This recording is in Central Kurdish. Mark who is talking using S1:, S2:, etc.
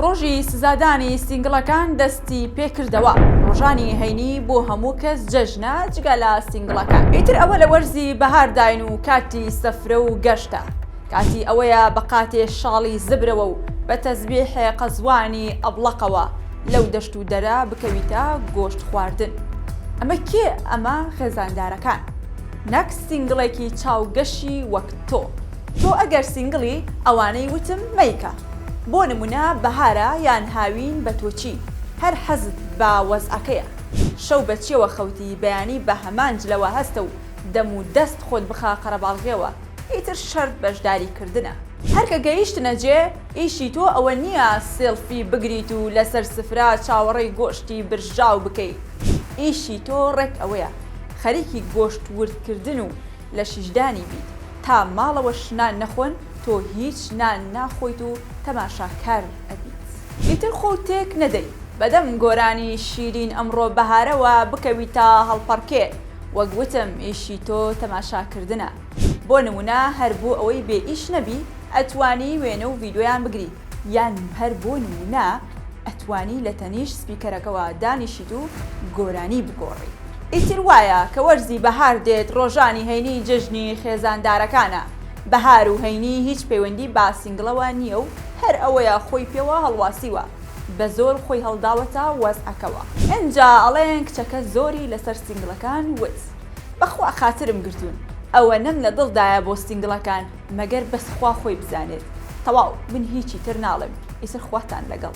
S1: ڕۆژی سزادانی سینگڵەکان دەستی پێکردەوە ڕۆژانی هەینی بۆ هەموو کەس جەژنە جگە لە سینگڵەکان ئیتر ئەوە لە وەرزی بەهارداین و کاتی سەفرە و گەشتە کاتی ئەوەیە بە قاتێ شاڵی زبرەوە و بە تەزبیحێ قەزوانی ئەبڵەقەوە لەو دەشت و دەرە بکەویتە گۆشت خواردن ئەمە کێ ئەمە خێزاندارەکان نەک سینگڵێکی چاوگەشی وەک تۆ تۆ ئەگەر سینگڵی ئەوانەی وتم مەیکە. بۆ نمونە بەهارە یان هاوین بە تۆچی هەر حەزت بە وەزعەکەیە شەو بە چیەوە خەوتی بەیانی بە هەمان جلەوە هەستە و دەم و دەست خۆت بخە قەرەباڵغیەوە ئیتر شەرت بەژداری کردنە. هەر کە گەیشتنە جێ ئیشی تۆ ئەوە نیە سیڵفی بگریت و لەسەر سفرە چاوەڕێی گۆشتی برژاو بکەی ئیشی تۆ ڕێک ئەوەیە خەریکی گۆشت وردکردن و لە شیشدانی بیت تا ماڵەوەش نان نەخۆن تۆ هیچ نان ناخۆیت و تەماشاکار ئەبیت. ئیتر خۆو تێک نەدەی. بەدەم گۆرانی شیرین ئەمڕۆ بەهارەوە بکەوی تا هەڵپەڕکێ وەک وتم ئیشی تۆ تەماشاکردنە بۆ نمونە هەر بۆ ئەوەی بێ ئیش نەبی ئەتوانی وێنە و ڤیدۆیان بگری یان هەر بۆ نمونە ئەتوانی لە تەنیشت سپیکەرەکەوە دانیشیت و گۆرانی بگۆڕی. ئیتر وایە کە وەرزی بەهار دێت ڕۆژانی هەینی جەژنی خێزاندارەکانە، بەهار و هەینی هیچ پەیوەندی بە سینگڵەوە نییە و هەر ئەوەیە خۆی پێوە هەڵواسیوە بە زۆر خۆی هەڵداوەتە وەزعەکەوە. ئینجا ئەڵێن کچەکە زۆری لەسەر سینگڵەکان وت بەخوا خاترم گرتوون ئەوەنەم لە دڵدایە بۆ سینگڵەکان. مەگەر بەس خوا خۆی بزانێت. تەواو من هیچی تر ناڵێم ئیتر خواتان لەگەڵ.